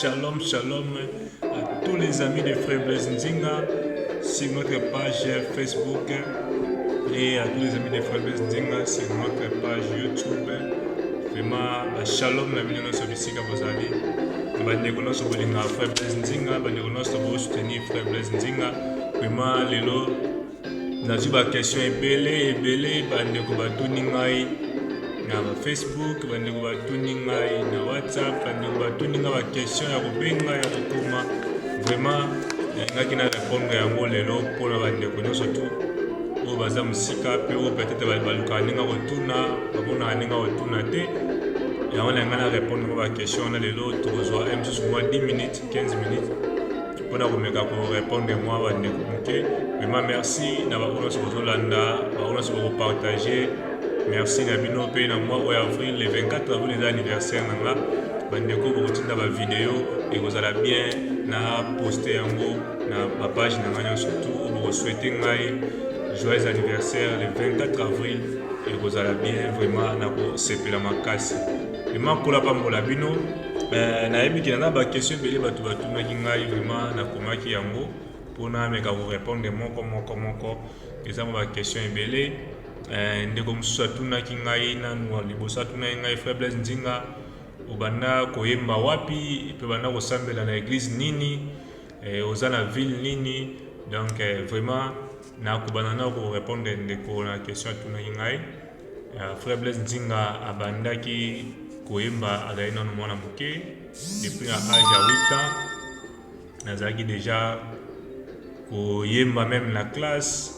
Shalom, shalom à tous les amis de Frère Blaise Nzinga sur notre page Facebook et à tous les amis de Frère Blaise Nzinga sur notre page YouTube. Vraiment, à shalom, la bino nyonso bisika bozali. Bandeko nyonso bolinga Frère Blaise Nzinga, bandeko nyonso bosoutenir Frère Blaise Nzinga. Vraiment, lelo Nazwi ba question ebele ebele, bandeko batuni ngai na Facebook, bandeko batuni ngai na WhatsApp, bandeko batuni ngai ba question ya kobenga ya kokoma. Vraiment nalingaki na répondre yango lelo mpo na bandeko nyonso tu oyo baza mosika mpe oyo peut-être balukaka ndenge kotuna bamonaka ndenge kotuna te yango nalinga na répondre mpo ba question wana lelo tokozwa ye mosusu mwa 10 minutes 15 minutes mpo na komeka korepondre mwa bandeko moke vrema merci na bango nyonso bozolanda bango nyonso bokopartage merci na bino mpe na mwa oyo avril le 24 avril eza anniversaire na nga bandeko bokotinda bavideo ekozala bien na poste yango na bapage na ngai nyonso tu bokoswete ngai joyeux anniversaire le 24 avril ekozala bien vrema na kosepela makasi vrema kola pambola bino Eh, nayebi kina na bakestion ebele bato batunaki ngai vraiment nakomaki yango mpona ameka korepondre moko moko moko eza mwa bakestion ebele eh, ndeko mosusu atunaki ngai nanu liboso atunaki ngai faiblesse nzinga obanda koyemba wapi mpe obanda kosambela na eglise nini eh, oza na ville nini donc vraiment nakobana na korepondre ndeko na question atunaki ngai Euh, frère Blaise Nzinga abandaki koyemba azali nano mwana moke depuis na age ya 8 ans nazalaki déjà koyemba meme na classe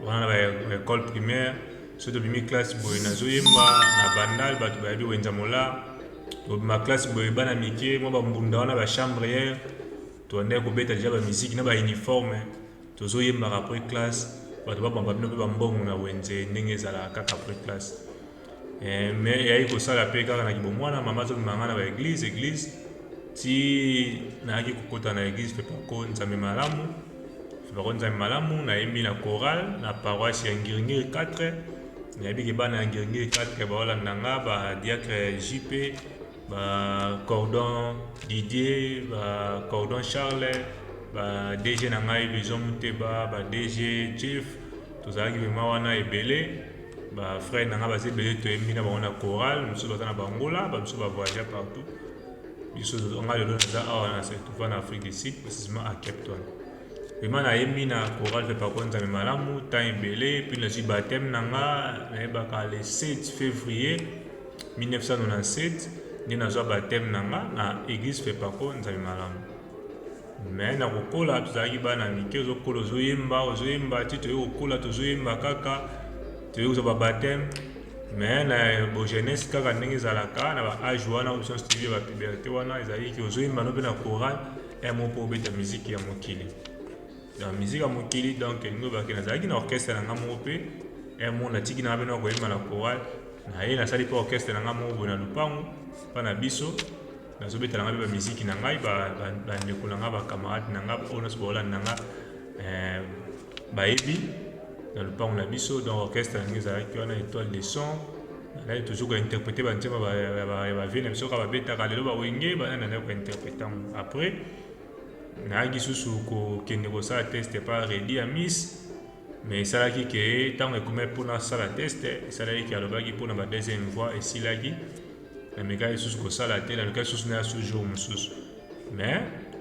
wana na baekole primaire soki tobimi classe boye nazoyemba na bandal bato bayebi wenza mola tobima classe boye bana mike mwa bambunda wana bachambre yere tobandaki kobeta deja bamiziki na bauniforme Tozo yembaka apres classe batu ba bamba bino pe ba mbongo na wenze ndenge ezalaka kaka apres classe eh, mais eyaki kosala pe kaka na kibomwana mama azo bima nga na ba eglise eglise ti nayaki kokota na eglise fepako nzambe malamu fepako nzambe malamu nayembi na chorale na paroisse ya ngiringiri 4 nayebi ke bana ya ngiringiri 4 baolanda nga ba diacre jp ba cordon Didier ba cordon Charles ba DG na ngai Bison Muteba ba DG Chief tozalaki vraiment wana ebele ba frère na ngai baza ebele toyembi na bango na chorale mosusu baza na bangola bamosusu bavoyagea partout biso ngai lelo naza awa na setuva na afrique du sud précisement à cape town vraimen nayembi na chorale mpe pakwa nzambe malamu temps ebele mpe nazwi bateme na nga nayebaka le 7 février 1997 nde nazwa bateme na nga na eglise fepako nzambe malamu me na kokola tozalaki bana mike ozokola ozoyemba ozoyemba ti toye kokola tozoyemba kaka toye kozwa babateme me na bogenese kaka ndenge ezalaka na baage wana option studio ya bapuberte wana ezalaki ozoyemba no mpe na coral emo mpo obeta miziki ya mokili ya musique ya mokili donc elingi oloba ke nazalaki na orchestre na ngai moko mpe un mot natiki na ngai mpe na koyemba na chorale naye nasali mpe orchestre na ngai moko boye na lopango mpa na biso nazobetela ngai mpe bamiziki na ngai bandeko na ngai bacamarade na ngai oyo nyonso baolanda na ngai eh, bayebi na lopango na biso donc orchestre yango ezalaki wana étoile de son nazalaki toujours kointerprete banzemba bavie na biso kaka babetaka lelo bawenge banani nazalaki kointerprete yango après nayaki susu kokende kosala teste pa redi ya mis me esalaki ke ntango ekomaki mpo nasala teste esalaki ke alobaki mpo na ba deuxième fois esilaki namekaki lisusu kosala te nalukaki lisusu naya su jour mosusu me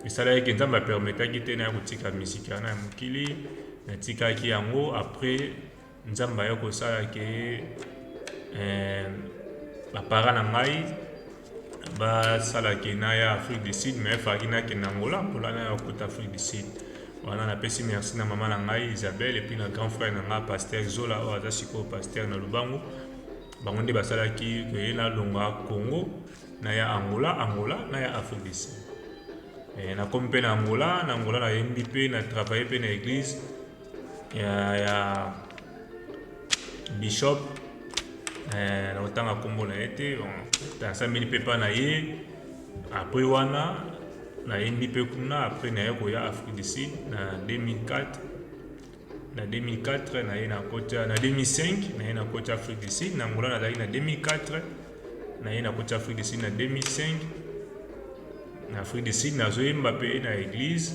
esalaki ke nzambe apermetaki te naya kotika misiki wana ya mokili natikaki yango après Nzambe aya kosala ke eh, bapara na ngai basalaki na ya afrique du sud mais efalaki nakende angola mpola na ya kota afrique du sud wana napesi merci na mama na ngai isabelle epuis na grand frère na ngai paster zola oyo aza sikoyo paster na lubangu bango nde basalaki koye nalonga congo na ya angola angola na ya afrique du sud eh, nakomi mpe na angola na angola nayembi mpe na travaille mpe na église ya, ya bishop eh, nakotanga nkombo na ye te asambeli mpe mpa na ye apres wana nayembi mpe kuna apres naye koya afrique du sud na 2004 na 2004 naye nakota na 2005 naye nakoti afrique du sud na ngola nazalaki na 2004 naye nakoti afrique du sud na 2005 na afrique du sud nazoyemba mpe na eglise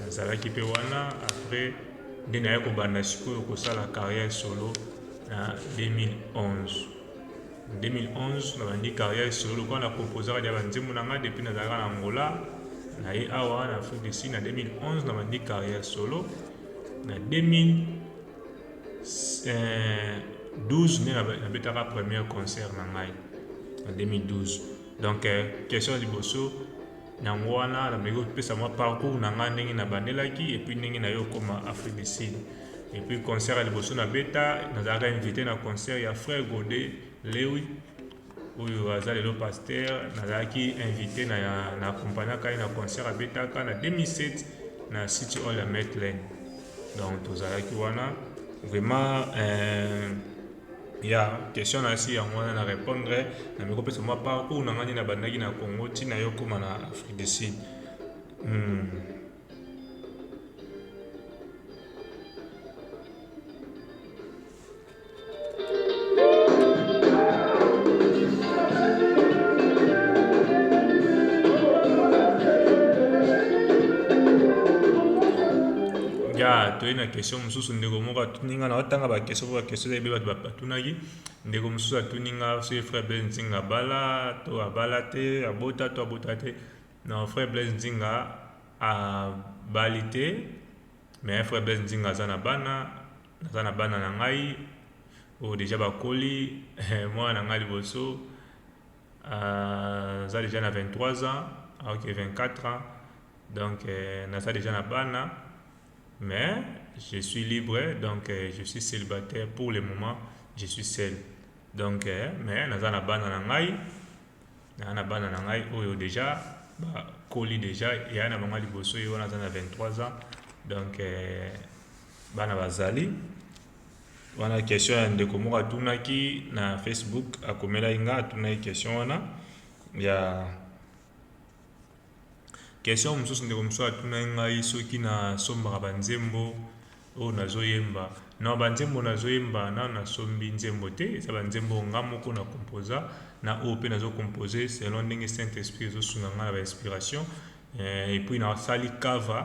nazalaki pe wana après nde naya kobanda sikoyo kosala carrière solo na 2011 2011 nabandi carrière solo lokola na composaka dia banzembo na ngai depuis nazalaka na angola na ye awa na afrique du sud na 2011 nabandi carrière solo na 2012 nde nabetaka première concert na ngai na 2012 donc euh, question liboso Yango wana nameki kopesa mwa parcours na ngai ndenge nabandelaki epuis ndenge naye okoma Afrique du Sud. Epuis concert ya liboso na beta nazalaka invite na concert ya frère Gode Lewi oyo aza lelo pasteur, nazalaki invite na ya na accompagnaka ye na concert abetaka na 2007 na City Hall ya Maitland. Donc tozalaki wana vraiment euh, Ya question na si yango wana na repondre na meko pesa mwa parcours na ngani na bandaki na Congo ti na yo koma na Afrique du Sud. Hmm. Ya toye na question mosusu ndeko moko atuni nga naotanga ba question po ba question eza ebele bato batunaki ndeko mosusu atuni nga soki frère blaise nzinga abala to abala te abota to abota te non frère blaise nzinga abali te mais frère blaise nzinga aza na bana naza na bana na ngai oyo deja bakoli mwana na ngai liboso aza deja na 23 ans aoki 24 ans donc naza deja na bana Mais je suis libre donc euh, je suis célibataire pour le moment je suis seul donc euh, mais naza na bana na ngai naza na bana na ngai oyo déjà bakoli déjà yaya na bango liboso ye wana aza na 23 ans donc euh, bana bazali wana question ya ndeko moko atunaki na facebook akomelaki nga atunaki question wana ya Question mosusu ndeko mosusu atunaki ngai soki na sombaka ba nzembo oyo nazo yemba. Non ba nzembo nazo yemba nanu na sombi nzembo te, eza ba nzembo oyo nga moko na composa na oyo pe nazo compose selon ndenge saint esprit ezo sunga nga na ba inspiration et puis na sali cover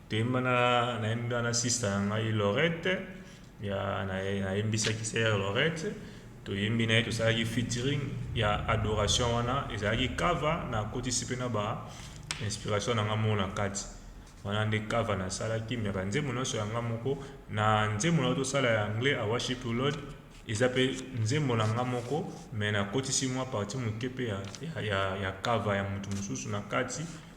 Toyemba na nayembi wana sista na ngai Lorette ya nayembisaki sœur Lorette toyembi na ye tosalaki featuring ya adoration wana ezalaki cover na kotisi pe na ba inspiration na nga moko na kati wana nde cover nasalaki me banzembo nyonso ya nga moko na nzembo na tosala ya anglais a worship you lord eza pe nzembo na nga moko me nakotisi mwa parti moke pe ya, ya, ya, ya cover ya moto mosusu na kati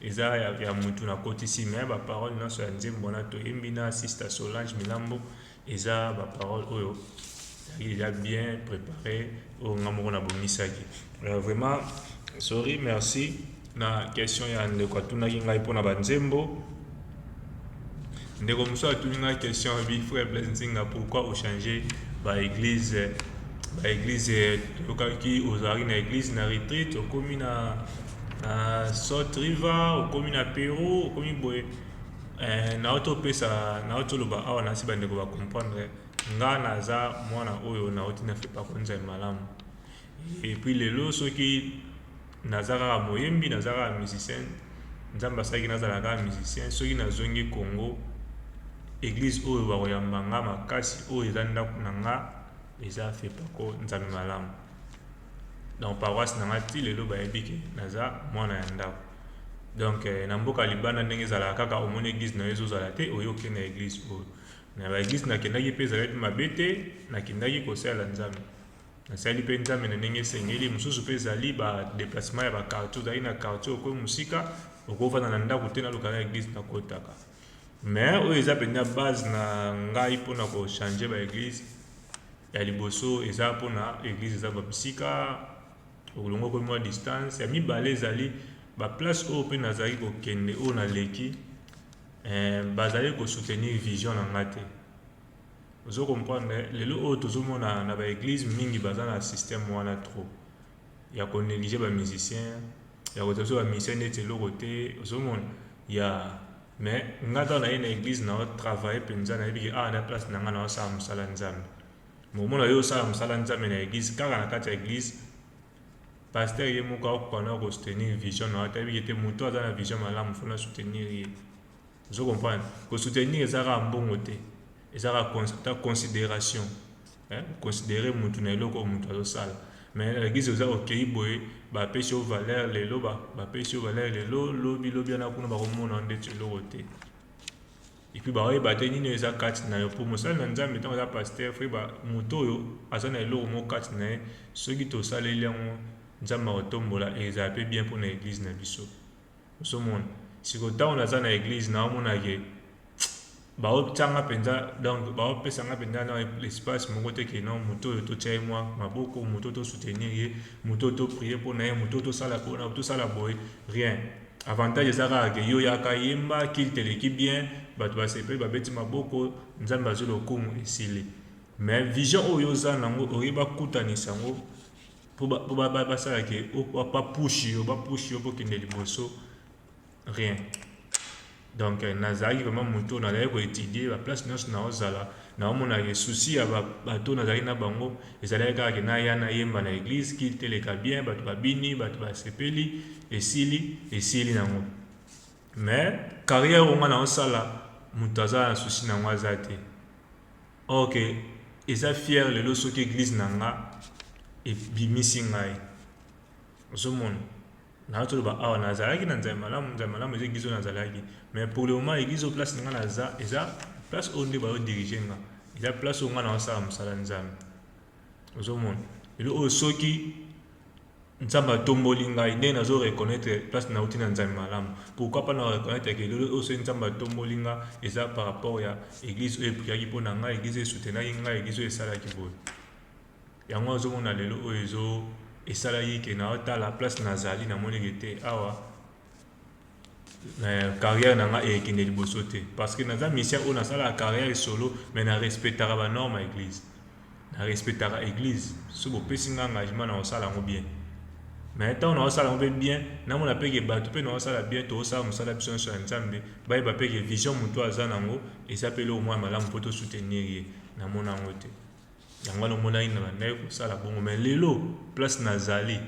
Eza ya ya mutu na kotisi mais ba parole nionso ya nzembo wana to yembi na sister Solange Milambo eza ba parole oyo ezalaki deja bien prepare oyo nga moko na bongisaki euh, vraiment sorry merci na question ya ndeko atunaki ngai mpona ba nzembo ndeko mosusu atuni nga question alobi frère blaise nzinga pourquoi ochange ba église ba église tokaki ozalaki na église na retreat okomi na na salt river okomi na peru okomi boye eh, nauti opesa nauti oloba awa nasi bandeko bacomprendre nga naza mwana oyo nauti na fepa konza malamu Et puis lelo soki naza kaka moyembi naza kaka musicien nzambe asalaki nazala kaka musicien soki nazongi congo eglise oyo bakoyamba nga makasi oyo eza ndako na nga eza fepaco nzambe malamu donc paroisse na nga ti lelo bayebi ke naza mwana ya ndako donc na mboka libanda ndenge ezalaka kaka omoni eglise na yo ezozala te oyo okei na eglise oyo na baeglise nakendaki mpe ezalaki mabe te nakendaki kosalela nzambe Nasali mpe Nzambe na ndenge esengeli. Mosusu mpe ezali ba deplacement ya ba quartier, ozali na quartier okomi mosika, okovanda na ndako te, naluka na eglise nakotaka. Mais oyo eza mpenza base na ngai mpo na kochanger ba eglise ya liboso eza mpo na eglise eza ba bisika okolongo okomi mwa distance. Ya mibale ezali ba place oyo mpe nazali kokende oyo naleki eh, bazali kosoutenir vision na ngai te Ozo comprendre lelo oyo tozo mona na ba eglise mingi baza na système wana trop ya ko negliger ba musiciens ya ko tazo ba musiciens neti eloko te ozo mona ya mais nga tango naye na eglise na travailler penza na yebi ke awa na place na nga na sala musala nzambe mais omona yo osala musala nzambe na eglise kaka na kati ya eglise pasteur ye moko akoka na ko soutenir vision na yo te yebi ke te moto aza na vision malamu fona soutenir ye Ozo comprendre? Ko soutenir eza kaka mbongo te. Eza kaka consideration. Eh, considérer mutu na eloko mutu azo sala. Mais la guise oza okeyi boye, ba pesi yo valeur lelo, ba, ba pesi yo valeur lelo, lobi lobi wana kuna ba komona ndeti eloko te. Et puis ba oyeba te nini eza kati na yo pour mosali na Nzambe tango aza pasteur frère ba mutu oyo aza na eloko moko kati na ye soki tosaleli yango Nzambe akotombola et ezala pe bien pona église na biso. Ozo mona? Sikoyo tango naza na eglise nao mona ke bao tia nga penza donc bao pesa nga penza na espace moko te ke non moto oyo to tia ye mwa maboko, moto to soutenir ye, moto to prier pona ye, moto to sala pona, to sala boye, rien. Avantage eza kaka ke yo yaka yemba, culte eleki bien, batu ba sepeli ba beti maboko, Nzambe azui lokumu, esili. Mais vision oyo oza nango oye ba kutanisa yango po ba po ba ba sala ke o ba ba push yo ba push yo po kende liboso rien donc euh, nazalaki vraiment moto nazalaki koetudie baplace nyonso naozala naomona ke souci ya bato nazalaki na bango ezalaki kaka ke naya nayemba na eglise kil teleka bien bato babini bato basepeli esili esili nango mais carrière onga naosala moto aza na souci nango aza te or que eza fière lelo soki eglise na nga ebimisi ngai ozomona naza toloba awa nazalaki na nzambe malamu nzambe malamu eza eglise oyo nazalaki mais pour le moment eglise oyo place na nga naza eza place oyo nde baodirige nga eza place oyo nga naosala mosala nzambe ozomona lelo oyo soki Nzambe atomboli ngai ndenge nazo reconnaitre place na uti na nzambe malamu pourquoi pas na reconnaitre que lelo oyo soki nzambe atomboli nga eza par rapport ya église oyo epriaki mpo na ngai église oyo esoutenaki ngai église oyo esalaki boye yango azomona lelo oyo ezo esalaki ke na otala place nazali namoneke te awa Euh, carrière na nga ekende liboso te parce que naza musicien oyo nasalaka carrière solo mais na respectaka ba norme ya église na respectaka église so bopesi nga engagement na kosala yango bien mais ntango naosala yango mpe bien namona mpe ke bato mpe naosala bien tokosala mosala biso nyonso ya nzambe bayeba mpe ke vision motu aza na yango eza mpe eloko mwa malamu mpo tosoutenir ye namona yango te yango wana omonaki na bandaki kosala bongo mais lelo place nazali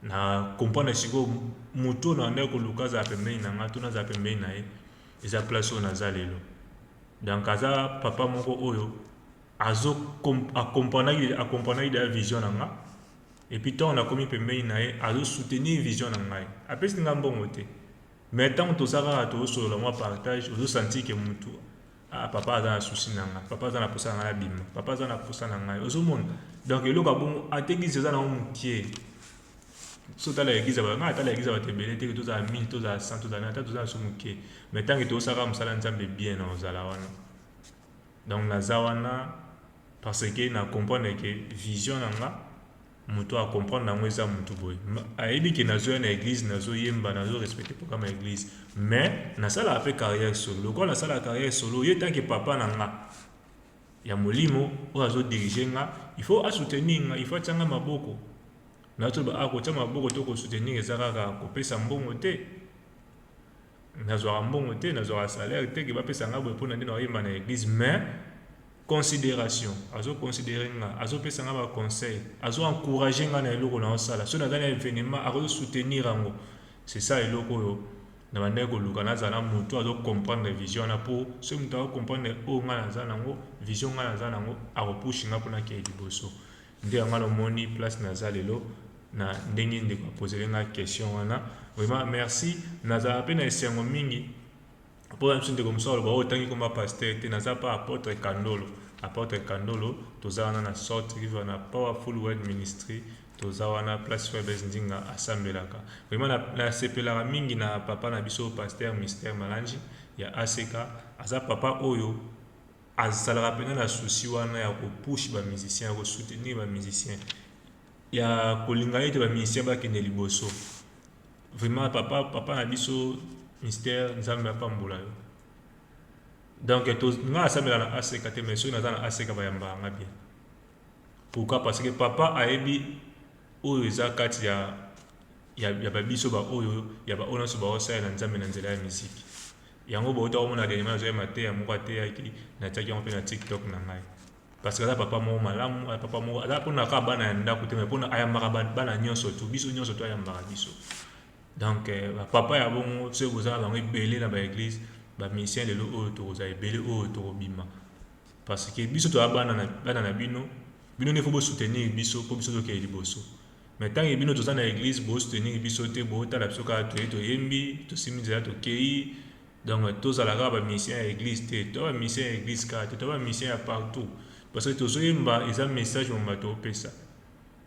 na comprendre sikoyo moto oyo nabandaki koluka azala pembeni na ngai to nazala pembeni na ye eza place oyo naza lelo donc aza papa moko oyo azo akomprenaki akomprenaki deja vision na nga epuis ntango nakomi pembeni na ye azo soutenir vision na ngai apesi ngai mbongo te mais ntango toza kaka tozosolola mwa partage ozosanti ke motu Ah, papa aza na souci na ngai papa aza na posa na ngai nabima papa aza na posa na ngai ozomona donc eloko ya bongo ata eglise eza nango mokie so tala eglise ngai atala eglise bato ebele te tozala 1000 tozala 100 tozala ata tozala so mokie mais ntango etosaka mosala nzambe bien na ozala wana donc naza wana parce que na comprendre ke vision na ngai Mutu a comprendre yango eza mutu boye ayebi ke nazo ya na eglise nazo yemba nazo respecter programme ya eglise mais na salaka pe carrière solo lokola na salaka carrière solo ye tanke papa na nga ya molimo oyo azo diriger nga il faut a soutenir nga il faut atia nga maboko nazo loba a kotia maboko to ko soutenir eza kaka kopesa mbongo te Nazwaka mbongo te, nazwaka salaire te que bapesa nga boye pona nde nakoyemba na eglise mais consideration azo considere nga azopesa nga ba conseil azo encourage nga na eloko naosala so naza na evenement akozo soutenir yango c'est ça eloko oyo na bandaki koluka nazala motu azo comprendre vision wana po soki moto ako comprendre oyo nga naza nango vision nga naza nango akopushe nga mpo nakeyi liboso Nde yango wana omoni place naza lelo na ndenge ndeko apozele nga question wana vraiment merci nazala mpe na esengo mingi mpo na biso ndeko mosusu aloba oyo oh, otangi komba pasteur te naza mpe apotre kandolo apotre kandolo toza wana na salt river na powerful word ministry toza wana place fabes ndinga asambelaka vraiment nasepelaka mingi na papa na biso pasteur mister malangi ya aseka aza papa oyo azalaka penza na souci wana ya ko push ba musiciens ya ko soutenir ba musiciens ya kolinga ete ba musiciens bakende liboso vraiment papa papa na biso Mister Nzambe apambola yo donc to nga asambela na ACK te mais soki naza na ACK bayamba nga bien pourquoi parce que papa ayebi oyo eza kati ya ya, ya babiso baoyo ya baoyo nyonso baosalela nzambe na nzela ya miziki Yango bowuta komona dernièrement nazwaki mateya moko ateyaki natiaki yango mpe na tiktok na ngai parce que aza papa moko malamu aza papa moko aza mpona kaka bana ya ndako te mais mpona ayambaka bana nyonso tu biso nyonso to ayambaka biso donc euh, bapapa ya bongo soki bozala bango ebele na baeglise bamisien lelo oyo tokozala ebele oyo tokobima parce que biso toza bana na bino bino nde fo bosoutenir biso mpo biso tokende liboso Mais tant que bino toza na eglise bo soutenir biso te bo tala biso kaka toye to yembi to simbi nzela to keyi donc to zala kaka ba musiciens ya eglise te toza ba musiciens ya eglise kaka te toza ba musiciens ya partout parce que tozo yemba eza message mobimba to pesa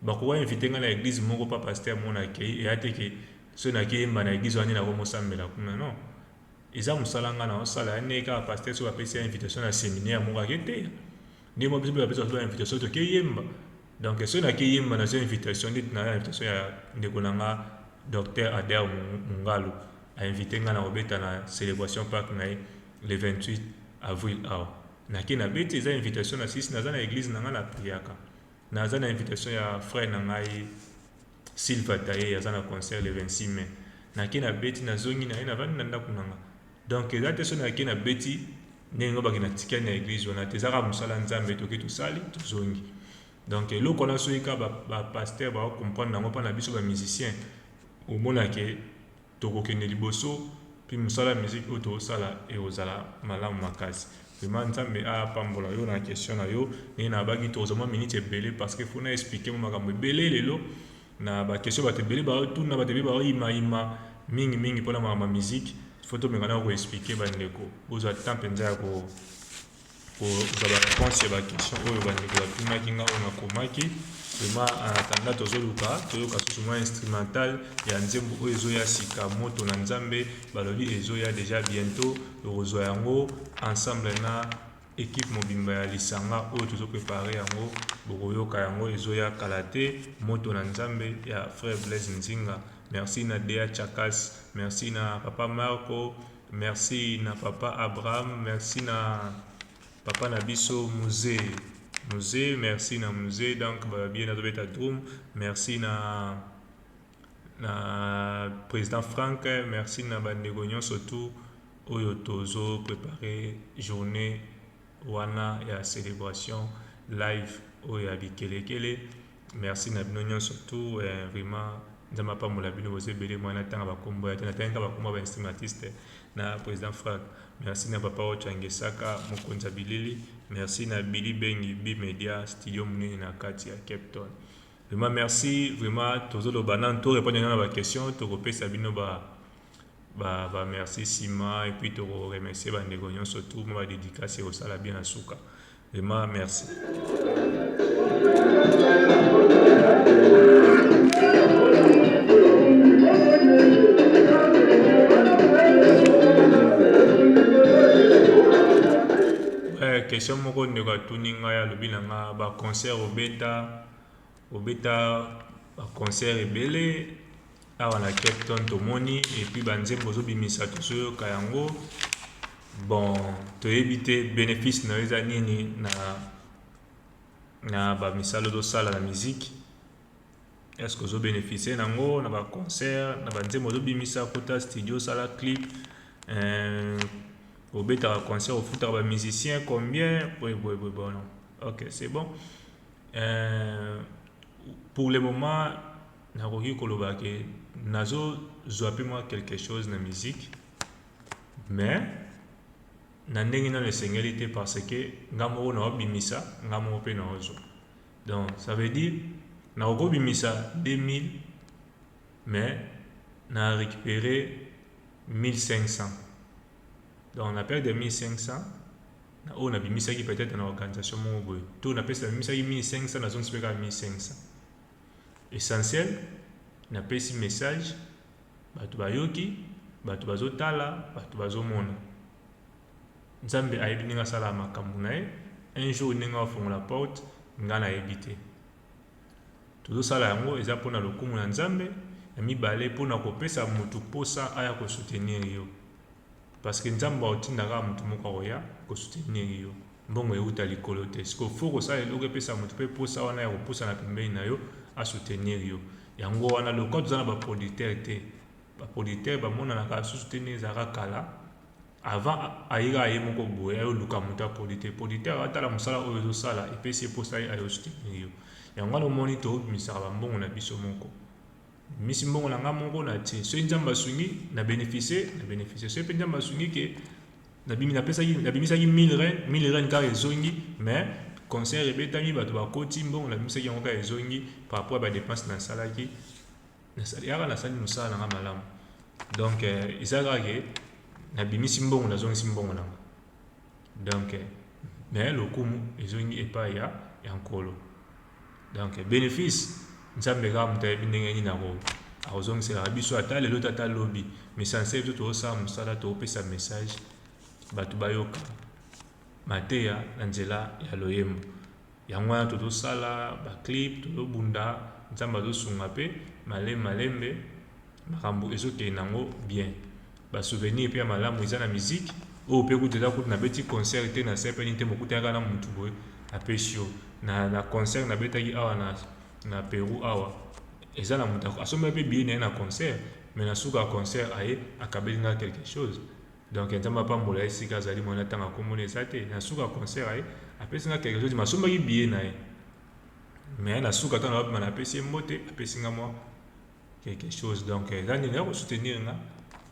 ba ko ba invite nga na eglise moko pa pasteur moko na keyi eya te ke soki na keyi yemba na eglise wana nde na ko mo sambela kuna non eza musala nga na osala ya ne kaka pasteur soki ba pesi ya invitation na seminaire moko ake teya nde mo biso pe ba pesa biso ba invitation to keyi yemba Donc soki nake yemba na zwa invitation neti na invitation ya ndeko na nga Docteur Ader Mungalu a invite nga na kobeta na celebration park na ye le 28 avril awa nake na beti eza invitation na sisi naza na eglise na nga na priaka naza na invitation ya frère na ngai Silva taille aza na concert le 26 mai nake na beti na zongi na ye na vandi na ndako na nga donc eza te so nake na beti ndenge ngo baki na tikali na eglise wana te ezaka mosala nzambe toke tosali tozongi donc eloko wana soki ka ba, ba pasteur ba comprendre nango mpa na biso ba musicien omona ke Tokokende liboso pe musala ya musique oyo tozosala ekozala malamu makasi vraiment nzambe apambola yo na question na yo ndenge nabaki tokozwa mwa minute ebele parce que faut na expliquer mwa makambo ebele lelo na ba question bato ebele baotuna bato ebele baoyima yima mingi mingi mpona makambo ya musique faut tomeka na ko expliquer bandeko bozwa temps mpenza ya ko kozwa ba réponse ya ba question oyo bandeko batumaki nga oyo nakomaki vraiment en attendant tozoluka toyoka susu mwa instrumental ya nzembo oyo ezoya sika moto na nzambe balobi ezoya deja bientôt tokozwa yango ensemble na ekipe mobimba ya lisanga oyo tozo prepare yango bokoyoka yango ezoya kala te moto na nzambe ya frère blaise nzinga merci na dea chakas merci na papa marco Merci na papa Abraham, merci na papa na biso musee musee, merci na musee donc babie nazo beta drum, merci na na president Frank, merci na bandeko nyonso tout oyo tozo prepare journée wana ya celebration live oyo ya bikelekele Merci na bino nionso tout eh, vraiment nzambe apambola bino boza ebele moi natanga bakombo ya te natangi kaka bakombo ya ba instrumentiste na président frank merci na papa ocha ngesaka mokonzi ya bilili merci na billy bengi bi media studio monene na kati ya cape town vraiment merci vraiment tozoloba nanu torepondre nano na baquestion tokopesa bino ba Ba ba merci sima et puis to remercier ba ndeko nyonso tout ba dédicace au sala bien na suka. Vraiment merci. question moko ndeko atuni ngai alobi na nga ba concert obeta Obeta ba concert ebele awa na Cape Town tomoni et puis ba nzembo ozobimisa tozoyoka yango bon toyebi te benefice na yo eza nini na na ba misala ozosala na musique est ce que ozo beneficie na yango na ba concert na ba nzembo ozobimisa kota studio osala clip euh, obetaka concert ofutaka ba musicien combien boye boye boye bono ok c'est bon Euh pour le moment nakoki koloba ke nazo zwa pe mwa quelque chose na musique mais na ndenge nano esengeli te parce que nga moko naobimisa nga moko pe naozwa donc ça veut dire nakoki kobimisa 2000 mais na récupérer 1500 Donc na perte ya 1500 na oyo nabimisaki peut-être na organisation moko boye to napesi nabimisaki 1500 nazongisi mpe kaka 1500 essentiel napesi message bato bayoki bato bazotala bato bazomona nzambe ayebi ndenge asala makambo na ye un jour ndenge afongola porte ngai nayebi te tozosala yango eza mpona lokumu ya nzambe ya mibale mpona kopesa motu mposa aya kosoutenir yo parceke nzambe aotindaka motu moko akoya kosoutenir yo mbongo euta likolo te siko fo kosala eloko epesa motu mpe mposa wana ya kopusana pembeni na yo asoutenir yo yango wana lokwa toza na baproducteur te baproducteur bamonanaka susu te nde ezalaka kala Avant aye kaka ye moko boye ayo luka mutu ya polite polite ayo atala musala oyo ozo sala epesi ye posa ye ayo soutenir yo yango wana omoni to bimisaka ba mbongo na biso moko misi mbongo na nga moko na tie soki nzambe asungi na beneficie na beneficie soki pe nzambe asungi ke na bimi na pesaki na bimisaki 1000 ren 1000 ren kaka ezongi mais concert ebetami bato bakoti mbongo na bimisaki yango kaka ezongi par rapport ya ba depense na salaki nasali yaka nasali mosala na nga malamu donc euh, eza kaka ke nabimisi mbongo nazongisi mbongo na nga donc euh, me lokumu ezongi epai ya ya nkolo donc euh, bénéfice nzambe kaka moto ayebi ndenge nini ako akozongiselaka biso ata lelo te ata lobi mesansele to tozosala mosala tokopesa message bato bayoka mateya na nzela ya loyembo Yango wana tozo sala ba clip tozo bunda nzambe azo sunga pe malembe malembe makambu ezo kende nango bien ba souvenir pe ya malamu eza na musique oyo pe kutu eza kutu na beti concert te na sepeli te bokutani kaka na mutu boye apesi yo na na concert na betaki awa na na Peru awa eza na mutu asombaki pe billet na ye na concert mais na suka ya concert aye akabeli nga quelque chose Donc nzambe apambola ye esika azali muana tango akomona eza te na suka ya concert aye apesi nga quelque chose masombaki billet na ye mais na suka tango abima na apesi ye mbote apesi nga mwa quelque chose donc eza nini ya ko soutenir nga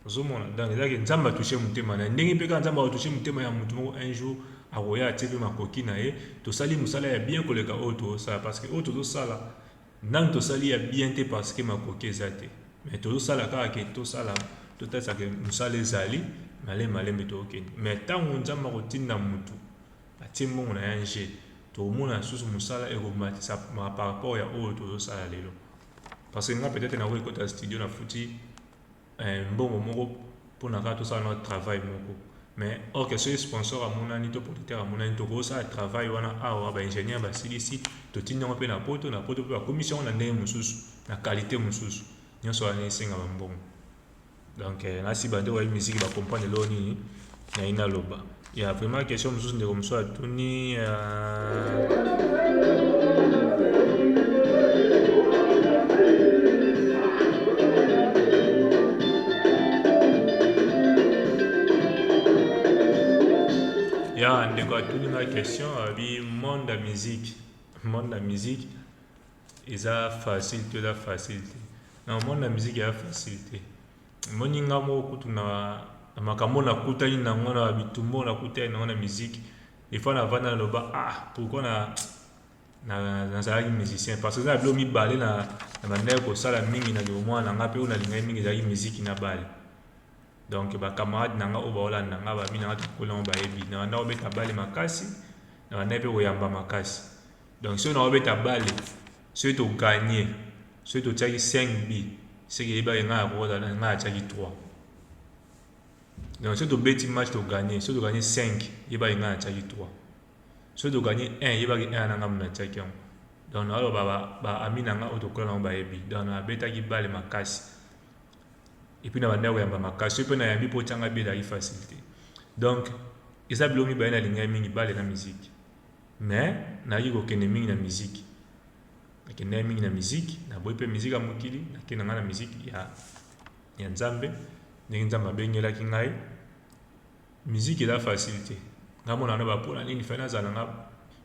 ozomona donc eza ke nzambe atouche motema na ye ndenge mpe kaka nzambe akotouche motema ya motu moko un jour akoya atie mpe makoki na ye tosali mosala ya bien koleka oyo tozosala parce que oyo tozosala Nanu tosali ya bien te parce que makoki eza te mais tozo sala kaka ke tosala totalisa ke musala ezali malembe malembe tokokende mais tango nzambe akotinda mutu atie mbongo na ya nje tokomona susu musala ekomatisa ma par rapport ya oyo tozo sala lelo parce que nga peut-être nakoki kota studio na futi eh, mbongo moko pona kaka tosala na travail moko mais or que soki sponsor amonani to producteur amonani tokosala travail wana awa ba ingénieur basilisi totindi yango mpe na poto na poto mpe bakomisi yango na ndenge mosusu na qualité mosusu nyonso wana esenga bambongo donc eh, nasiba nde oyebi miziki bacomprendre eloo nini naye naloba ya vraiment question mosusu ndeko mosusu atuni ya ndeko atuni nga question abi monde ya musique monde ya musique eza facile to eza facile te na monde ya musique eza facile te Moninga moko kutu na na makambo na kutani na yango na bitumbo na kutani na yango na musique des fois na vanda na loba ah pourquoi na na nazalaki musicien parce que eza na bilo mibale na na bandaki kosala mingi na bomwana na nga mpe oyo nalingaki mingi ezalaki miziki na bale donc ba camarade na nga oyo baolanda nga ba mingi na nga tokola yango bayebi na bandaki kobeta bale makasi na bandaki mpe koyamba makasi donc soki na kobeta bale Soki to gagner soki to tiaki 5 but seke eyebaki ngai na kota ngai na tiaki 3 donc soki to beti match to gagner soki to gagner 5 eyebaki ngai na tiaki 3 soki to gagner 1 eyebaki 1 na ngai na tiaki yango donc na aloba ba ba ami na ngai oyo tokola nango bayebi donc na betaki bale makasi et puis na bandaki koyamba makasi soki mpe nayambi mpo otyanga bi ezalaki facilité donc eza biloko mibale nalingaki mingi bale na miziki Mais nayaki kokende mingi na miziki. Nakendaki mingi na miziki, naboyi mpe miziki ya mokili, nakei na ngai na miziki ya, ya Nzambe, ndenge Nzambe abengelaki ngai. Miziki eza facile te. Ngai mona na bapo na nini fai nazala na nga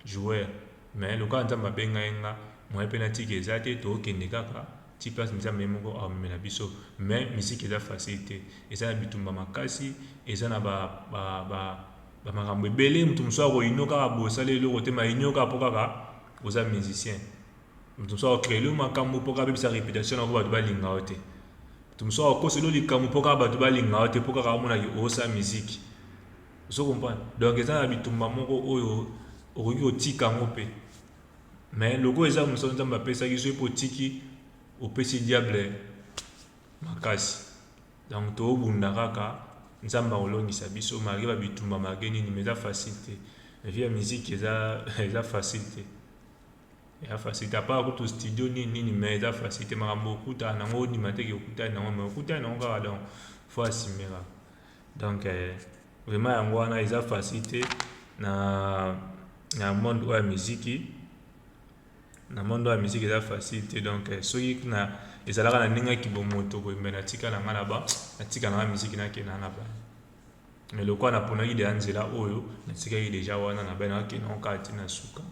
joueur. Mais lokola Nzambe abengai nga, moyen mpe natika eza te, tokende kaka ti place Nzambe ye moko aomemela biso. Mais miziki eza facile te. Eza na bitumba makasi, eza na ba, ba, ba ba makambo ebele mutu mosusu ako inno kaka boye osali eloko te ma inno kaka po kaka oza musicien mutu mosusu ako creer yo makambo po kaka abebisa reputation na ko bato balinga yo te mutu mosusu ako kosela yo likambo po kaka bato balinga yo te po kaka amona ke osa musique ozo comprendre donc eza na bitumba moko oyo okoki kotika yango pe mais lokola eza mosala nzambe apesaki soki pe otiki opesi diable makasi Donc too bunda kaka nzambe ako longisa biso malgre ba bitumba malgre nini mais eza facile te mais vie ya musique eza eza facile te eza facile te apart kutu studio nini nini mais eza facile te makambo okuta nango ondima te ke okutani nango mais okutani nango kaka donc faut assumer kaka donc eh, vraiment yango wana eza facile te na na monde oyo ya miziki na monde oyo ya musique eza facile te donc eh, soki na ezalaka na ndenge ya kibomoto boye me natika na ngai na ba natika na ngai musique nakenda na bana me lokola naponaki deja nzela oyo natikaki deja wana na bai nakakenda yango kaka ti na suka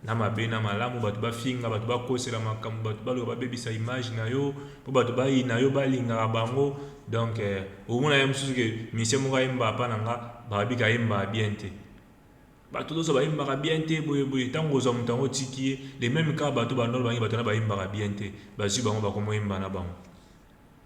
na mabe na malamu bato bafinga bato bakosela makambo bato baloba babebisa image na yo mpo bato bayina yo balingaka bango donc eh, omona ye mosusu ke misie moko ayemba apa na nga babika ayembaka bien te Batu loso ba yembaka bien te boye boye tangu ozua mutu yango otiki ye de meme cas batu ba nord bangi batu wana ba yembaka bien te bazui bango bakomo yemba na bango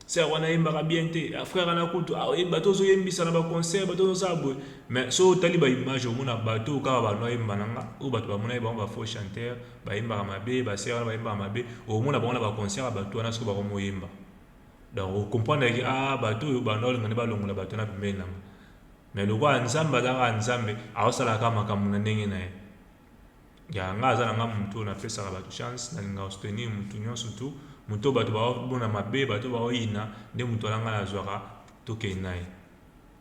sœur wana ayembaka bien te ah, frère wana kutu ah, bato ozoyembisa na baconcert bato ozosala boye mais so otali baimage omona bato kaka bano ayemba na nga oyo bato bamonaki bango bafaux chanteur bayembaka mabe basere wana bayembaka mabe omona bango na baconcert ya bato wana soki bakomoyemba donc okomprendreke a ah, bato oyo bano olinga nde balongola bato wana pembeni nanga Mais lokola nzambe aza kaka nzambe azosala kaka makambo na ndenge na ye ya nga aza na nga moto oyo napesaka bato chance nalingaka soutenir moto nyonso tu moto oyo bato baomona mabe bato baoyina nde moto wana ngai nazwaka tokei na ye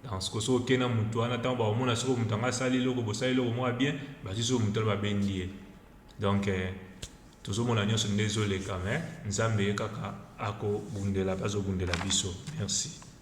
donc sikoyo soki okei na moto wana ntango bakomona sikoyo moto yango asali eloko bosali eloko moko ya bien bazwi sikoyo moto wana babendi ye donc eh, tozomona nyonso nde ezoleka me nzambe ye kaka akobundela bazobundela biso merci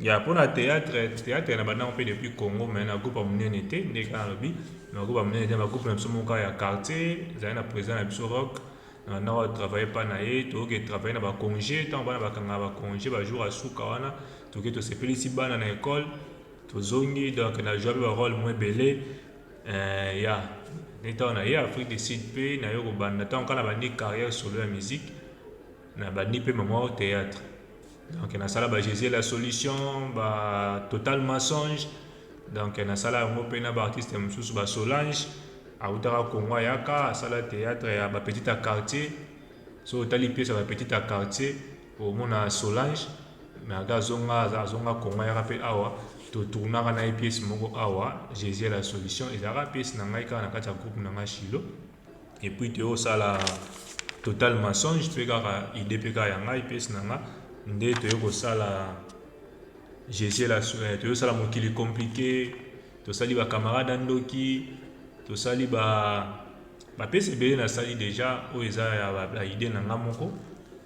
ya mpo na théâtre théâtre na bandango mpe depuis congo mai na groupe ya monene te nde kaka nalobi na groupe ya monene te bagroupe na biso moka ya quartier ezali na président na biso rock na bandako ya travaille mpa na ye toyoki etravaille na baconge ntango bana bakangaka baconge bajour ya suka wana toki tosepelisi bana na ekole tozongi donc na joa mpe barole mo ebele eh, ya ntango na ye afrique du sud mpe nayo kobanda ntango kaka na bandi carrière solo ya musique Na bandi pe maman au theatre. Donc na sala ba Jesus la solution, ba total mensonge. Donc na sala yango pe na ba artistes mosusu ba Solange awutaka Congo ayaka asala theatre ya ba petite à quartier. So otali pièce ya ba petite à quartier omona Solange mais aga azonga azonga Congo ayaka pe awa to tournaka na ye pièce moko awa Jesus la solution ezalaka pièce na ngai kaka na kati ya groupe na ngai Shilo. et puis te osala total mensonge pe kaka idee pe kaka ya ngai pesi na nga nde toye kosala jesus la eh, toye kosala mokili compliqué tosali ba camarade ndoki tosali ba bapesi ebele nasali deja oyo eza ya baide na ngai moko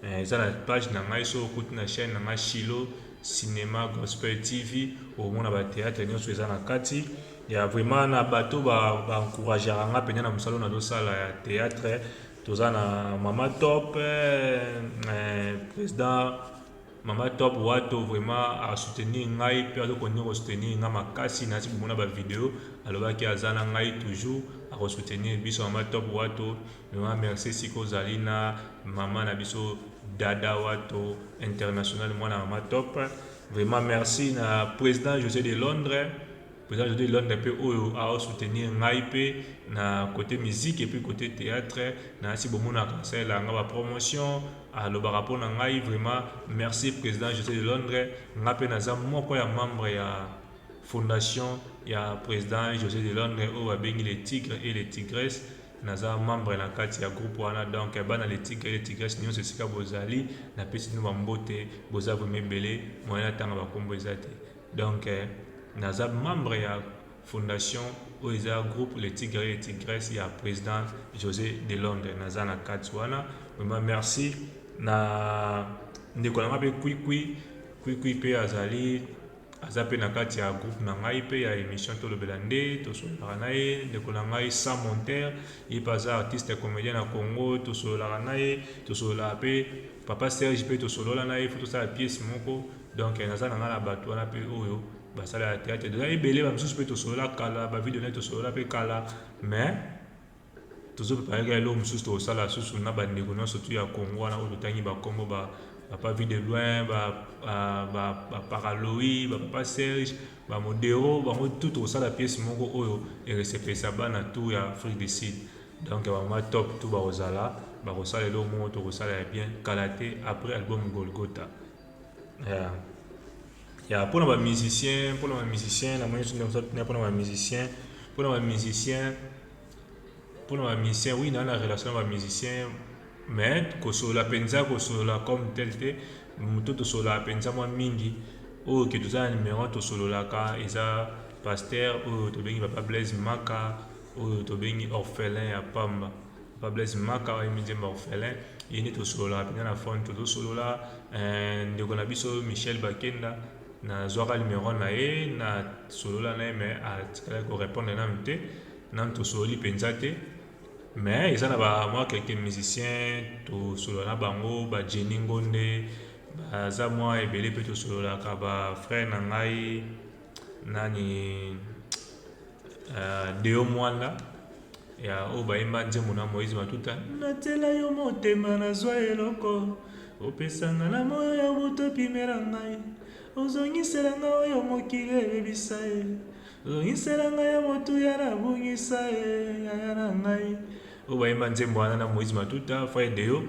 eh, eza na page na ngai so okuti na chaîne na ngai shilo cinema gospel tv omona bateatre nyonso eza na kati Ya vraiment na bato ba ba encourageaka nga mpenza na mosala nazo sala ya theatre toza na mama top eh, president mama top wato vraiment a soutenir ngai mpe azo continue ko soutenir ngai makasi nasi bomona ba video alobaki aza na ngai toujours ako soutenir biso mama top wato vraiment merci siko ozali na mama na biso dada wato international mwana mama top vraiment merci na president josé de londres President Jody Londa pe oyo ao soutenir ngai pe na cote musique et puis cote theatre na si bomonaka asalela nga ba promotion alobaka pona ngai vraiment merci president Jose de Londres nga pe naza moko ya membre ya fondation ya president Jose de Londres oyo babengi le tigre et le tigres naza membre na kati ya groupe wana donc bana le tigre et le tigres nyonso esika bozali napesi bino bambote boza vrema ebele moyen atanga bakombo eza te Donc naza membre ya fondation oyo eza groupe le tigre et tigresse ya president Jose de Londres naza na kati wana vraiment merci na ndeko na ngai pe kwikwi kwikwi pe azali aza pe na kati ya groupe na ngai pe ya émission tolobela nde tosololaka na ye ndeko na ngai sans monter ye pe aza artiste comédien na congo tosololaka na ye tosololaka pe papa serge pe tosolola na ye fo tosala pièce moko Donc naza na nga na batu wana pe oyo basala ya theatre toza ebele ba misusu pe tosolola kala ba video na tosolola pe kala mais tozo prepare ka eloko mosusu tokosala susu na bandeko nyonso tu ya congo wana oyo totangi bakombo ba papa vie de loin ba ba ba paraloi ba papa serge ba modero bango tu tokosala pièce moko oyo eresepelisa bana tu ya afrique du sud donc bamama top tu bakozala bakosala eloko moko tokosala ya bien kala te après album golgota Yeah. Yeah, pona ba musicien pona ba musicien na moni soki na pona ba musicien pona ba musicien pona ba musicien oui na na relation ba musicien mais kosolola mpenza kosolola comme tel te moto tosololaka mpenza mwa mingi oyo ke toza na numero tosololaka eza paster oyo tobengi papa blaise maka oyo tobengi orphelin ya pamba Papa Blaise Maka oyo midjemba orphelin ye nde tosololaka mpenza na phone tozosolola eh, ndeko na biso Michel Bakenda nazwaka numero na ye nasolola na ye me atikalaki korepondre nanu te nanu tosololi mpenza te me eza na bamwa quelque musicien tosolola na bango bajeni ngonde baza mwa ebele mpe tosololaka bafrère na ngai nani uh, deo mwanda ya oyo bayemba nzembo na moise matuta natyela yo motema nazwa eloko opesanga na moyo ya moto epimela ngai ozongisela ngai oyo mokili ebebisa ye ozongisela ngai ya motu ya nabungisa ye yaya na ngai oyo bayemba nzembo wana na moise matuta fai deo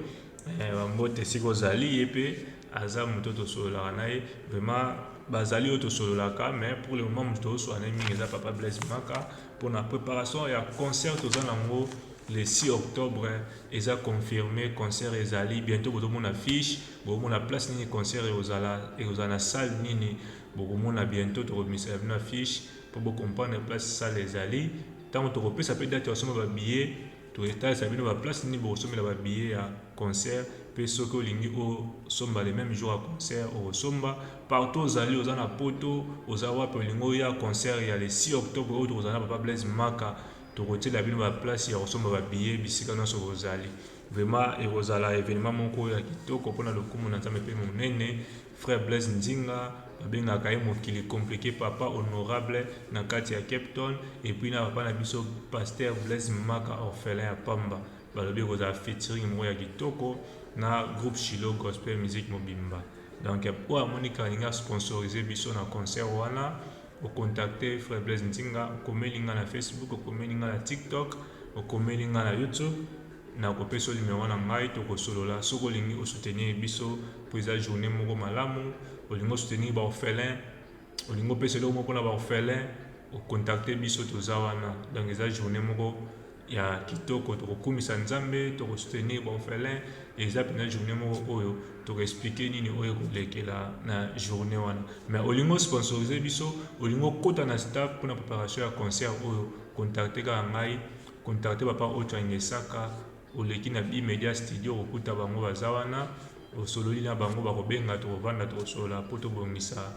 eh, bambote esika ozali ye mpe Aza moto tosololaka na ye vraiment bazali oyo tosololaka mais pour le moment moto tozosolola na ye mingi eza papa Blaise Maka mpona preparation ya concert toza nango le 6 octobre eza confirme concert ezali bientôt bozomona fiche bokomona place nini concert ekozala ekozala na salle nini bokomona bientôt tokobimisela bino affiche mpo bocomprendre place salle ezali ntango tokopesa mpe date ya kosomba babillet Totalisa bino ba place nini bokosombela ba billets ya concert pe soki olingi osomba le meme jour ya concert okosomba partout ozali oza na poto oza wapi olingi oya concert ya le 6 octobre oyo tokozala na papa blaise maka tokotiela bino ba place ya kosomba ba billets bisika nyonso bozali vraiment ekozala evenement moko ya kitoko mpona lokumu na nzambe mpe monene Frère Blaise Nzinga babengaka ye mokili complique papa honorable na kati ya Cape Town et puis na papa na biso pasteur Blaise Maka orphelin ya pamba balobi ekozala featuring moko ya kitoko na groupe Shiloh Gospel Music mobimba donc oyo amoni kalingi asponsorize biso na concert wana ocontacte frère Blaise Nzinga okomeli nga na Facebook okomeli nga na TikTok okomeli nga na YouTube Na ko pesa yo numero na ngai to ko solola soki olingi o soutenir biso po eza journee moko malamu olingi o soutenir ba orphelins olingi o pesa eloko moko pona ba orphelins o contacter biso toza wana donc eza journee moko ya kitoko toko kumisa nzambe toko soutenir ba orphelins eza pena journee moko oyo toko expliquer nini oyo eko lekela na journee wana mais olingi o sponsoriser biso olingi o kota na staff pona preparation ya concert oyo contacter kaka ngai Contacte papa ocho angesaka oleki na bi media studio okokuta bango baza wana osololi na bango bakobenga tokovanda tokosolola po tobongisa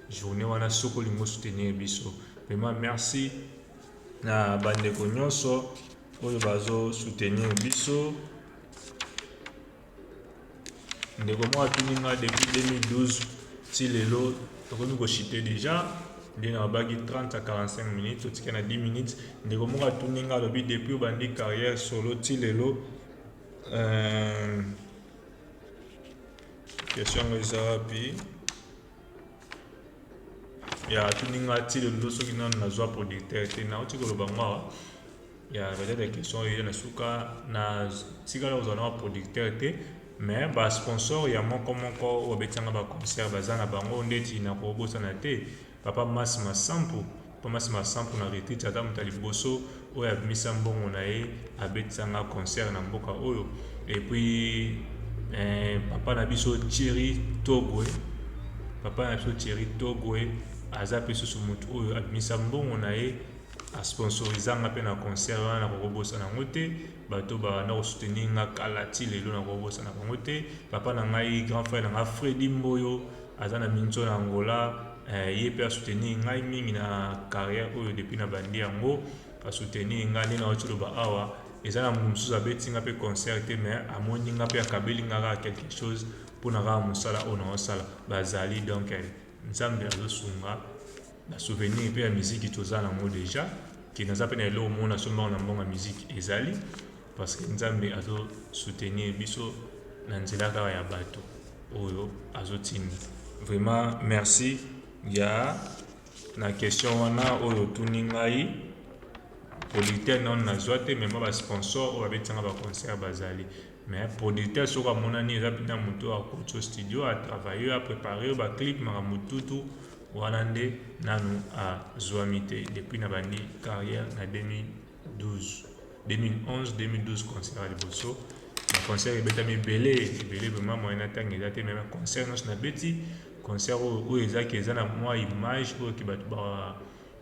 journee wana soki olingi osoutenir biso vraiment merci na bandeko nyonso oyo bazo soutenir biso Ndeko moko atuni nga depuis 2012 ti lelo tokomi ko chute deja nde na babaki 30 à 45 minutes totika na 10 minutes ndeko moko atuni nga alobi depuis obandi carrière solo ti lelo euh, question yango eza wapi ya atuni nga ti lelo soki nanu nazwa producteur te nauti koloba ngo awa ya peut-être ya question oyo na suka na tikala kozala na producteur te mais ba sponsor ya moko moko oyo babetanga ba concert baza na bango ndeti na kobosana te papa mas masampu papa mas masampu na retreat aza moto ya liboso oyo abimisa mbongo na ye abetisanga concert na mboka oyo et puis eh, papa na biso thierry togwe papa na biso thierry togwe aza mpe susu moto oyo abimisa mbongo na ye a sponsorisa nga pe na concert wana na koko bosana yango te bato ba na ko soutenir nga kala ti lelo na koko bosana bango te papa na ngai grand frère na nga Freddy Mboyo aza na minzo na Angola eh, ye pe a soutenir ngai mingi na carrière oyo depuis na bandi yango a soutenir nga nde na wati loba awa eza na moto mosusu abeti nga pe concert te mais amoni nga pe akabeli nga kaka quelque chose mpo na kaka mosala oyo na osala bazali donc eh, nzambe azosunga Na souvenir pe ya musique toza na ngo deja ke naza pe na eloko moko na somba na mbongo ya musique ezali parce que nzambe azo soutenir biso na nzela kaka ya bato oyo azo tindi vraiment merci ya na question wana oyo otuni ngai producteur nano nazwa te mema basponsor oyo babetanga baconcert bazali Mais producteur soki amonani eza pina mutu a kotso studio a travaille yo a prepare yo ba clip makambo tutu wana nde nanu a zuami te depuis na bandi carrière na 2012 2011 2012 concert ya liboso na concert ebetami ebele ebele vraiment moyen na tanga eza te mais na concert nyonso na beti concert oyo oyo ezaki eza na mwa image oyo ke bato ba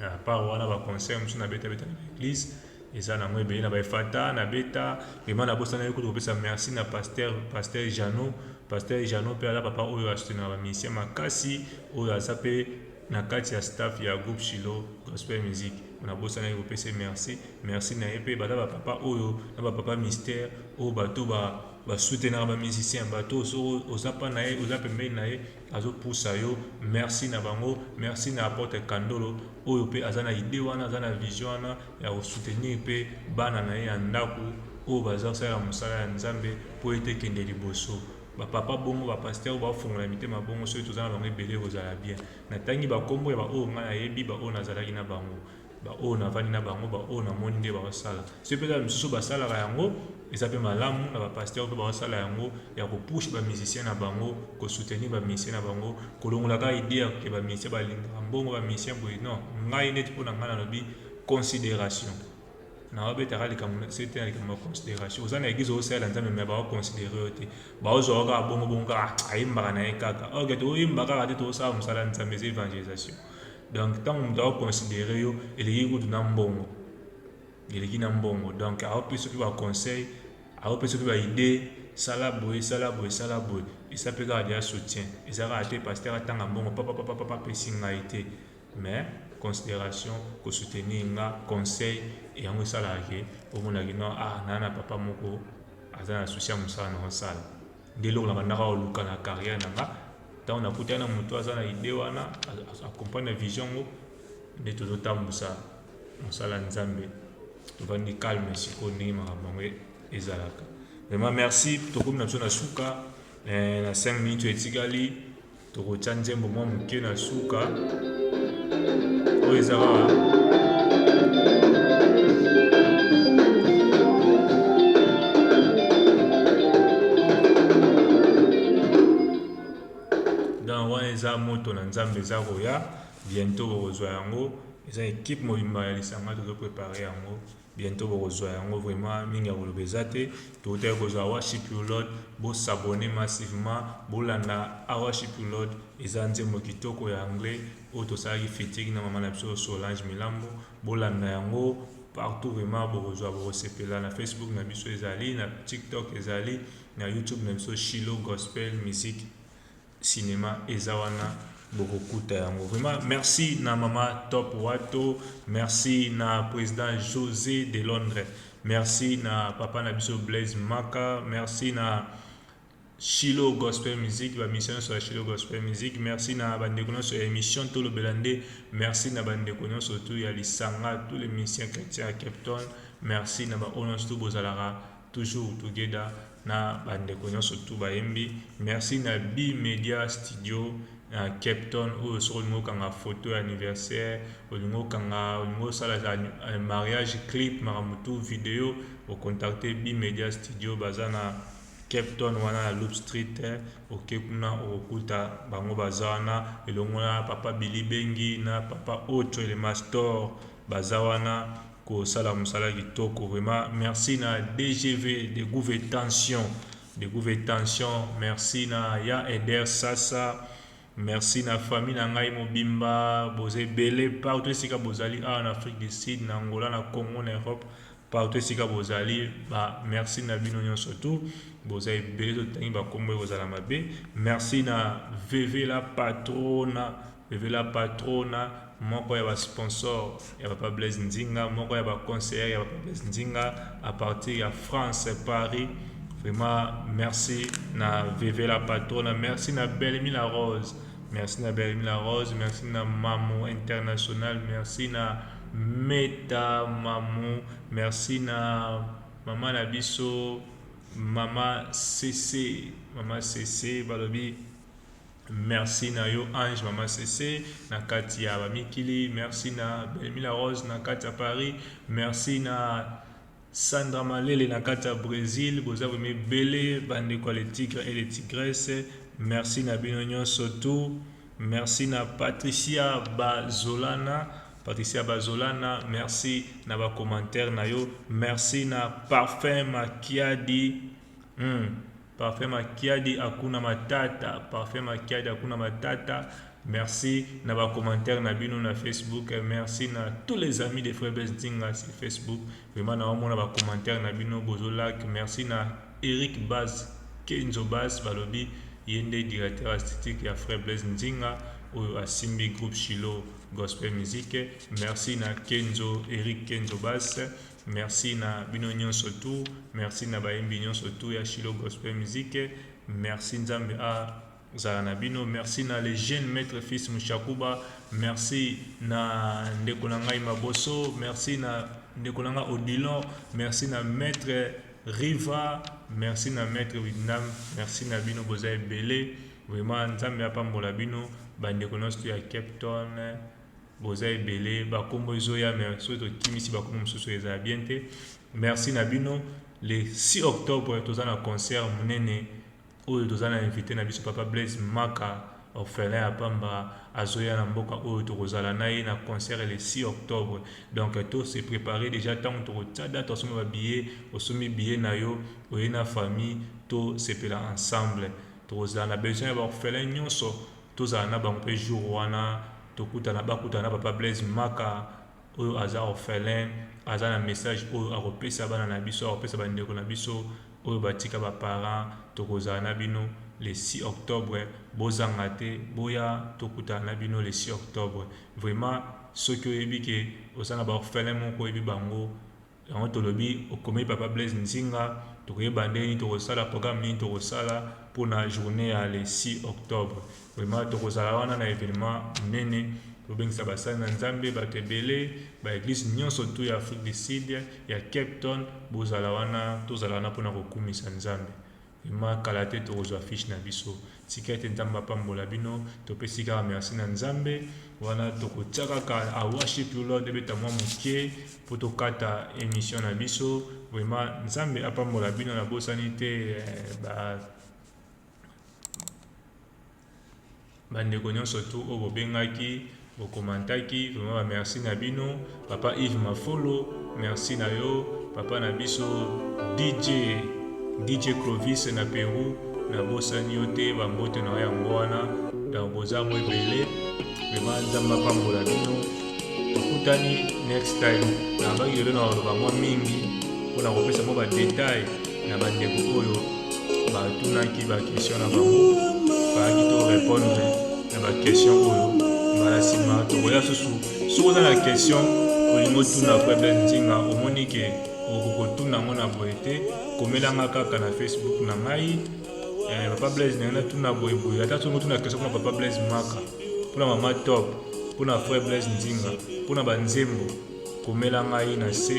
À part wana ba concert mosusu na beta beta na l'église eza nango ebele na ba efata na beta vraiment na bosana yo kutu kopesa merci na pasteur pasteur Jeannot pasteur Jeannot mpe aza papa oyo asoutenaka ba musicien makasi oyo aza mpe na kati ya staff ya groupe Shilo gospel music na bosanaki kopesa merci merci na ye mpe baza ba papa oyo na ba papa mystère oyo bato ba basoutenaka ba musicien bato oyo soko oza mpa na ye oza pembeni na ye azo pusa yo merci na bango merci na apotre kandolo oyo pe aza na idee wana aza na vision wana ya ko soutenir pe bana na ye ya ndaku oyo baza kosalela mosala ya nzambe po ete ekende liboso ba papa bongo ba pasteur oyo baofongola mitema bongo soki toza na bango ebele ekozala bien natangi bakombo ya baoyo ngai nayebi baoyo nazalaki na bango baoyo navandi na bango baoyo namoni nde baosala soki mpe eza misusu basalaka yango eza mpe malamu na bapasteur mpe baosala yango ya kopushe bamusicien na bango kosoutenir bamusicien na bango kolongolaka ide ya ke bamusicien balingaka mbongo bamusicien boye non ngai neti mpo na ngai nalobi considération naobetaka likambo sete na likambo ya considération oza na eglise osalela nzambe me baoconsidere yo te baozwaka kaka bongo bongo kaka ah, ayembaka na ye kaka oke toyemba kaka te tozosala mosala nzambe eza evangelisation Donc tango mutu ako considere yo eleki kutu na mbongo eleki na mbongo donc ako pesa pe ba conseil ako pesa pe ba idee sala boye sala boye sala boye esa pe kaka deja soutien eza kaka te pasteur atanga mbongo papa papa papa apesi ngai te mais consideration ko soutenir nga conseil et yango esalaka ke omona ke non ah na na papa moko aza na souci ya mosala na osala Nde eloko na bandaka ko luka na carrière na nga tango na kutani na mutu aza na idee wana a comprendre vision yango nde tozo tambusa musala ya Nzambe tovandi calme sikoyo ndenge makambo yango ezalaka vraiment merci tokomi na biso na suka eh, na 5 minutes etikali Tokotya nzembo mwa moke na suka oyo ezalaka eza moto na nzambe eza koya bientôt bokozwa yango eza ekipe mobimba ya lisanga tozo prepare yango Bientot bokozua yango vraiment mingi ya koloba eza te towutaki kozua worship you lord bo s'abonner massivement bolanda a worship you lord eza nzembo kitoko ya anglais oyo tosalaki featuring na maman na biso Solange Milambo bolanda yango partout vraiment bokozua bokosepela na Facebook na biso ezali na TikTok ezali na YouTube na biso Shiloh Gospel Musique cinema eza wana bokokuta yango vraiment merci na mama top wato merci na president josé de londres merci na papa na biso blaise maka merci na Shilo Gospel Music, ba mission sur Shilo Gospel Music. Merci na bande kono sur émission tout le belande. Merci na bande kono surtout ya lisanga tous les musiciens chrétiens à Cape Town. Merci na ba onos tout bozalara. Toujours together na ba ndeko nionso tout bayembi. Merci na Bi Media Studio na Cape Town oyo soki olingi okanga photo ya anniversaire, olingi okanga, olingi osala mariage clip makambo tout video, o contacter Bi Media Studio baza na Cape Town wana na Loop Street oke kuna okokuta bango baza wana elongo na papa Billy Bengi na papa Ocho le Mastor baza wana kosala musala kitoko vraiment merci na DGV de gouve tension de gouve tension merci na ya Eder Sasa merci na famille na ngai mobimba boza ebele partout esika bozali awa na Afrique du Sud na Angola na Congo na Europe partout esika bozali ba merci na bino nyonso tu boza ebele totangi bakombo ekozala mabe merci na VV la patrona Bebe la patrona moko ya ba sponsors ya papa Blaise Nzinga moko ya ba conseillers ya papa Blaise Nzinga à partir ya France Paris vraiment merci na Veve la patrona merci na Belmi la Rose merci na Belmi la Rose merci na Mamu International merci na Meta Mamu merci na mama na biso mama Sese mama Sese balobi Merci na yo Ange Mama Sese na kati ya Bamikili. Merci na Belmila Rose na kati ya Paris. Merci na Sandra Malele na kati ya Brésil. Boza vrema ebele bandeko ya le tigre et le tigresse. Merci na bino nyonso tu. Merci na Patricia Bazolana. Patricia Bazolana, merci na ba commentaire na yo. Merci na Parfum Makiadi. Hmm. Parfait Makiadi akuna matata Parfait Makiadi akuna matata Merci na ba commentaires na bino na Facebook merci na tous les amis de Frère Blaise Nzinga sur Facebook vraiment na omona ba commentaires na bino bozo like merci na Eric Baz Kenzo Baz balobi ye nde directeur artistique ya Frère Blaise Nzinga oyo asimbi groupe Shiloh gospel musique merci na Kenzo Eric Kenzo Baz Merci na bino nionso tout merci na bayembi nionso tout ya Shilo Gospel Musique merci Nzambe a zala na bino merci na le jeune maître fils Mushakuba merci na ndeko na ngai Maboso merci na ndeko na ngai Odilon merci na maître Riva merci na maître Widnam merci na bino boza ebele vraiment Nzambe apambola bino bandeko nyonso ya Cape Town Boza ebele ba kombo ezoya mais soki tokimisi ba kombo mosusu ezala bien te. Merci na bino. Le 6 octobre toza na concert munene oyo toza na invité na biso papa Blaise Maka orphelin ya pamba azoya na mboka oyo tokozala na ye na concert le 6 octobre. Donc to se préparer déjà tango tokotia date osomba ba billets, osombi billet na yo, oye na famille to sepela ensemble. Tokozala na besoin ya ba orphelins nyonso Tozala na bango pe jour wana tokutana bakutana na papa Blaise maka oyo aza orphelin aza na message oyo akopesa bana na biso akopesa ba ndeko na biso oyo batika ba parents tokozala na bino le 6 octobre bozanga te boya tokutana na bino le 6 octobre vraiment soki oyebi ke oza na ba orphelin moko oyebi bango Yango tolobi okomi papa Blaise Nzinga tokoyeba ndenge nini tokosala programme nini tokosala mpo na journée ya le 6 octobre. Vraiment tokozala wana na evenement monene tobengisa basali na Nzambe bato ebele ba eglise nyonso tu ya Afrique du Sud ya Cape Town bozala wana tozala wana mpo na kokumisa Nzambe. Vraiment kala te tokozwa fiche na biso. Tika ete Nzambe apambola bino. Topesi kaka merci na Nzambe. Wana tokotia kaka I worship you Lord ebeta mwa moke mpo tokata emission na biso. Vraiment Nzambe apambola bino na bosani te eh, ba bandeko nyonso tu oyo bobengaki bokomantaki vraiment ba merci na bino papa Yves Mafolo merci na yo papa na biso DJ DJ Clovis na Peru na bosani yo te ba mbote na yango wana donc boza mo ebele vraiment nzambe apambola bino tokutani next time nabaki lelo na koloba mwa mingi mpo na kopesa mwa badetail na bandeko oyo batunaki bakestion na bango bayaki to repondre na bakestion oyo mbala nsima tokoya susu soki oza na kestion olingi otuna faible nzinga omoni ke okokotuna yango na boye te komelanga kaka na facebook na ngai eh, papa blaise na ngai natuna boye boye ata soki otuna kestion mpona papa blaise maka mpona mama top mpona frère blaise nzinga mpona banzembo komela ngai na se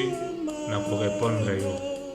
na korepondre yo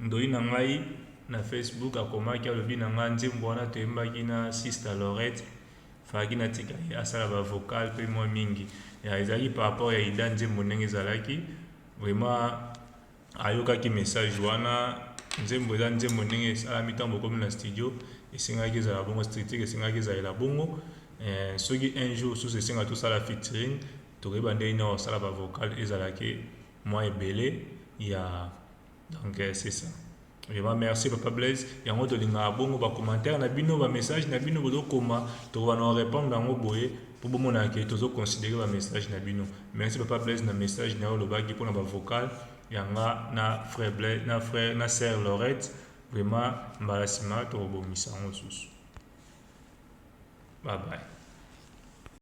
Ndoyi na ngai na Facebook akomaki alobi na ngai nzembo wana toyembaki na Sister Laurette fallaki na tika ye asala ba vocal pe mwa mingi ya ezalaki par rapport ya Ida nzembo ndenge ezalaki vraiment ayokaki message wana nzembo eza nzembo ndenge esalami ntango bokomi na studio esengaki ezala bongo structure esengaki ezalela bongo eh, soki un jour susu esenga tosala featuring tokoyeba ndenge nini osala ba vocal ezalaki mwa ebele ya donc eh, c'est ça Vraiment merci papa Blaise. Yango tolingaka bongo ba commentaires na bino, ba messages na bino bozo koma, tokoba na répondre yango boye po bomona ke tozo considérer ba messages na bino. Merci papa Blaise na message na yo lobaki pona ba vocal yanga na frère Blaise na frère na sœur Laurette. Vraiment mbala sima tokobongisa yango susu. Bye bye.